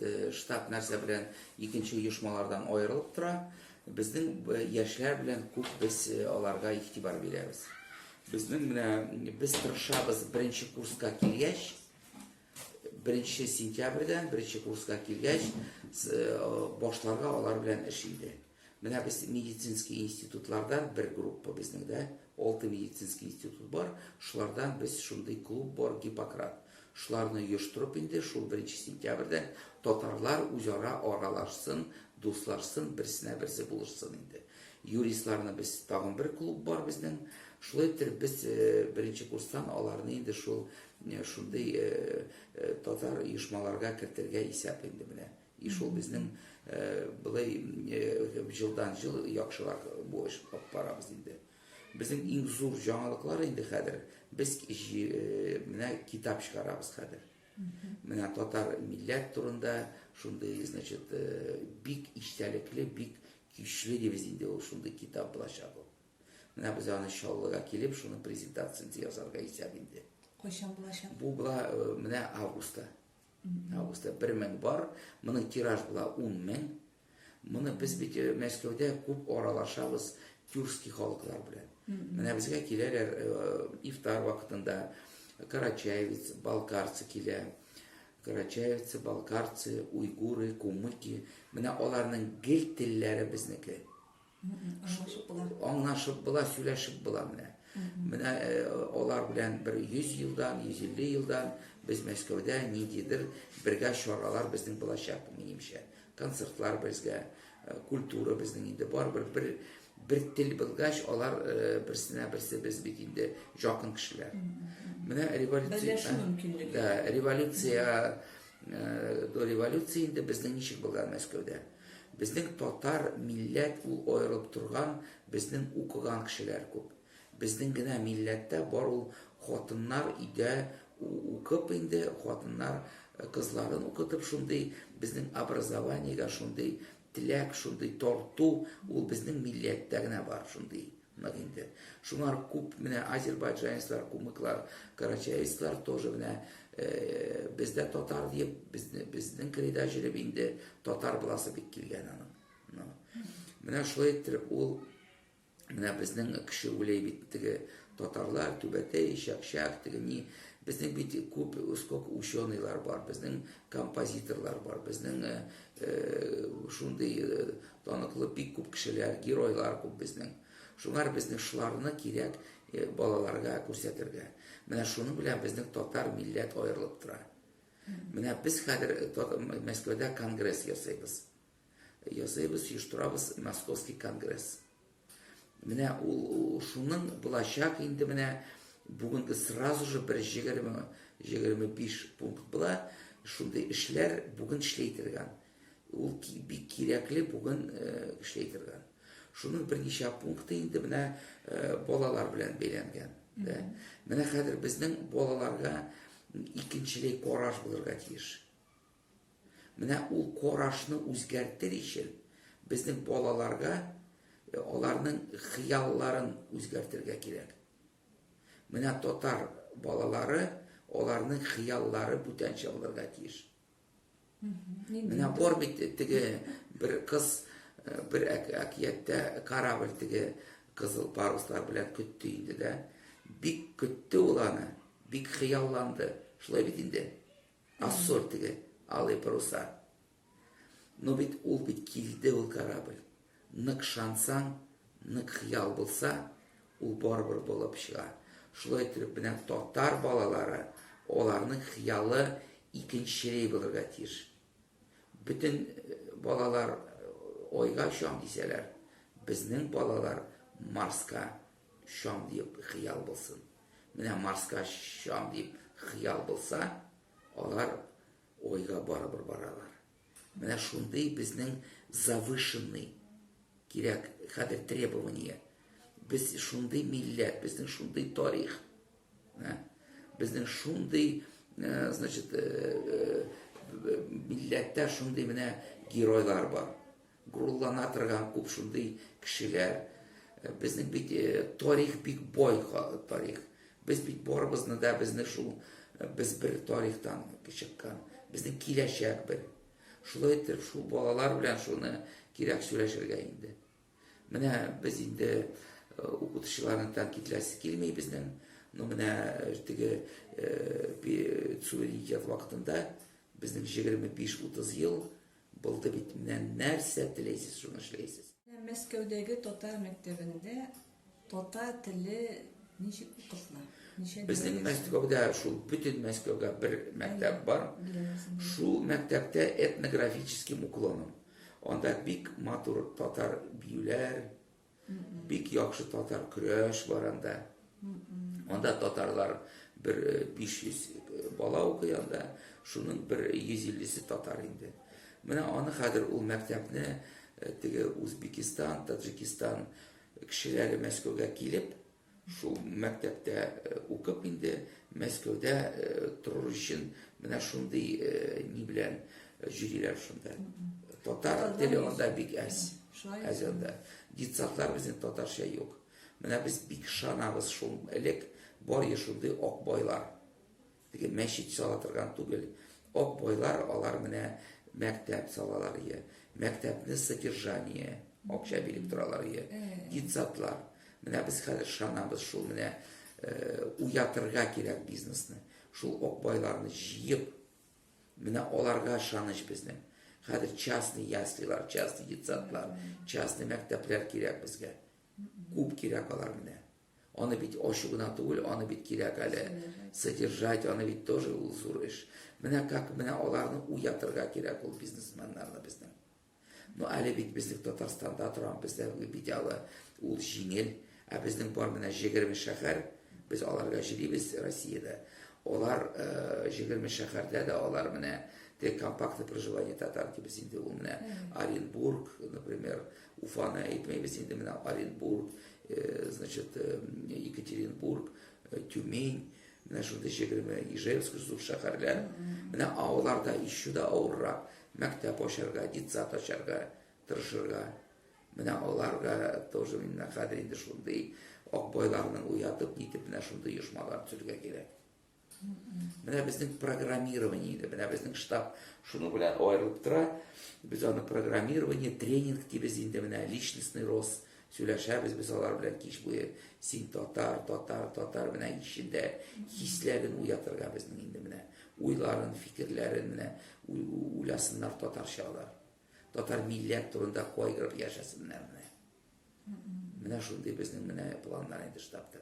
Э, штаб нәрсә белән икенче оешмалардан аерылып тора. Безнең э, яшьләр белән күп без э, аларга игътибар бирәбез. Безнең менә без тырышабыз беренче курска килгәч, беренче сентябрьдән беренче курска килгәч, башларга алар белән эш инде. Менә без медицинский институтлардан бер группа безнең дә, алты медицинский институт бар, шулардан без шундый клуб бар Гиппократ. Шуларны оештырып инде шул беренче сентябрьдән татарлар үзара аралашсын, дуслашсын, берсенә берсе булышсын инде. Юристларны без тагын бер клуб бар безнең. Шулай иттереп без беренче курстан аларны инде шул шундый татар оешмаларга кертергә исәп инде менә. И шул безнең былай җылдан-җыл яхшырак бу эш алып барабыз инде. Безнең иң зур җаңалыклар инде хәзер без менә китап чыгарабыз хәзер. Менә татар милләт турында шундый, значит, бик истәлекле, бик көчле дибез инде ул шундый китап булачак ул. Менә без аны Чаллыга килеп, шуның презентациясен ясарга исәп инде. Кайчан булачак? Бу була менә августта. Августта бер мең бар, моның тираж була ун мең. Моны без бит э, Мәскәүдә күп аралашабыз тюркский халыклар белән. Менә безгә киләләр э, ифтар вакытында карачаевец, балкарцы килә. Карачаевцы, балкарцы, уйгуры, кумыки. Менә аларның гел телләре безнеке. Аңлашып була. Аңлашып була, сөйләшеп була менә. Менә э, алар белән бер 100 елдан, 150 елдан без Мәскәүдә ниндидер бергә чаралар безнең булачак, минемчә. Концертлар безгә, э, культура безнең инде барыбер бер бер тел булгач, алар э, берсенә берсе без бит инде якын кешеләр. Менә революция. Берләшү мөмкинлеге. Да, революция до революции инде безнең ничек булган Мәскәүдә. Безнең татар милләт ул аерылып торган безнең укыган кешеләр күп. Безнең генә милләттә бар ул хатыннар өйдә укып инде хатыннар кызларын укытып шундый безнең образованиегә шундый теләк шундый тарту ул безнең милләттә генә бар шундый. Нык инде. Шунар күп менә азербайджанецлар, кумыклар, карачаецлар тоже менә без дә татар диеп, безнең кырыйда җөреп инде татар буласы бик килгән аның. Менә шулай иттереп ул менә безнең кеше үлей бит теге татарлар, түбәтәй, шәкшәк, теге ни, безнең бит күп сколько ученыйлар бар, безнең композиторлар бар, безнең шундый Таныклы бик күп кешеләр, геройлар күп безнең. Шуңар безнең шуларны кирәк э, балаларга күрсәтергә. Менә шуның белән безнең татар милләт аерылып тора. Менә без хәзер э, Мәскәүдә конгресс ясыйбыз. Ясыйбыз, оештырабыз Московский конгресс. Менә ул, ул шуның булачак инде менә бүгенге сразу же бер 20-25 пункт була. Шундый эшләр бүген эшләй торган. Ул бик кирәкле бүген эшләй торган. Шуның берничә пункты инде менә балалар белән бәйләнгән. Дә. Менә хәзер безнең балаларга икенчелек караш булырга тиеш. Менә ул карашны үзгәртер ичен безнең балаларга аларның хыялларын үзгәртергә кирәк. Менә татар балалары аларның хыяллары бүтәнчә булырга тиеш. Менә бар бит теге бер кыз бер әкияттә корабль теге кызыл паруслар белән көтте инде дә. Бик көтте ул аны, бик хыялланды. Шулай бит инде. Нас зур теге алый паруса. Ну бит ул бит килде ул корабль. Нык шансаң, нык хыял булса, ул барыбер булып чыга. Шулай итеп менә татар балалары, аларның хыялы икенчерәй булырга тиеш. Бөтен балалар ойга чам дисәләр, безнең балалар Марска чам диеп хыял булсын. Менә Марска очам дип хыял булса, алар Айга барыбер баралар. Менә шундый безнең завышенный кирәк хәзер требование. Без шундый милләт, безнең шундый тарих. Ә? Безнең шундый, э, значит, э, э, милләттә шундый менә геройлар бар. Горурлана торган күп шундый кешеләр. Безнең бит тарих бик бай тарих. Без бит барыбызны да безне шул без бер тарихтан чыккан. Безнең киләчәк бер. Шулай итеп шул балалар белән шуны кирәк сөйләшергә инде. Менә без инде укытучыларны тәнкидләсе килми безнең. Но менә теге суверенитет вакытында безнең 25-30 ел Булды бит, менә нәрсә теләйсез, шуны эшләйсез. Мәскәүдәге татар мәктәбендә татар теле ничек укытыла? Ничә Безнең Мәскәүдә шул бөтен Мәскәүгә бер мәктәп бар. Шул мәктәптә этнографическим уклоном. Анда бик матур татар биюләр, Бик яхшы татар көрәш бар анда. Анда татарлар бер 500 э, э, бала укый анда, шуның бер 150-се татар инде. Менә аны хәзер ул мәктәпне э, теге Узбекистан, Таджикистан кешеләре Мәскәүгә килеп, Шул мәктәптә укып инде Мәскәүдә торыр өчен менә шундый ни белән җөриләр шунда. Татар теле анда бик әз. Әз анда. Детсадлар безнең татарча юк. Менә без бик шанабыз шул элек бар ешундый акбайлар. Теге мәчет сала торган түгел. Ак байлар алар менә мәктәп салалар ие. Мәктәпне содержание, акча биреп торалар ие. Детсадлар. Менә без хәзер шанабыз шул менә уятырга кирәк бизнесны. Шул ак байларны җыеп, менә аларга шаныч безнең. Хәзер частный яслилар, частный детсадлар, частный мәктәпләр кирәк безгә. Күп кирәк алар менә. Аны бит ачу гына түгел, аны бит кирәк әле содержать, аны бит тоже ул зур эш. Менә как менә аларны уятырга кирәк ул бизнесменнарны безнең. Ну әле бит безнең Татарстанда торам, бездә бит әле ул җиңел, ә безнең бар менә 20 шәһәр, без аларга җирибез Россиядә. Алар 20 шәһәрдә дә алар менә те компактный проживание татар дибез инде ул менә Оренбург, например, Уфаны әйтмәйбез инде менә Оренбург, значит, Екатеринбург, Тюмень, менә шундый җегерме Ижевск зур шәһәрләр. Менә аларда еще да авыррак мәктәп ачарга, детсад ачарга тырышырга. Менә аларга тоже менә хәзер инде шундый акбайларның уятып нитеп менә шундый оешмалар төзергә кирәк. Менә безнең программирование инде, менә безнең штаб шуның белән аерылып тора. Без аны программирование, тренинг дибез инде менә, личностный рост сөйләшәбез без алар белән кич буе. Син татар, татар, татар менә ишендә хисләрен уятырга безнең инде менә. Уйларын, фикерләрен менә уйласыннар татарча алар. Татар милләт турында кайгырып яшәсеннәр менә. Менә шундый безнең менә планнар инде штабта.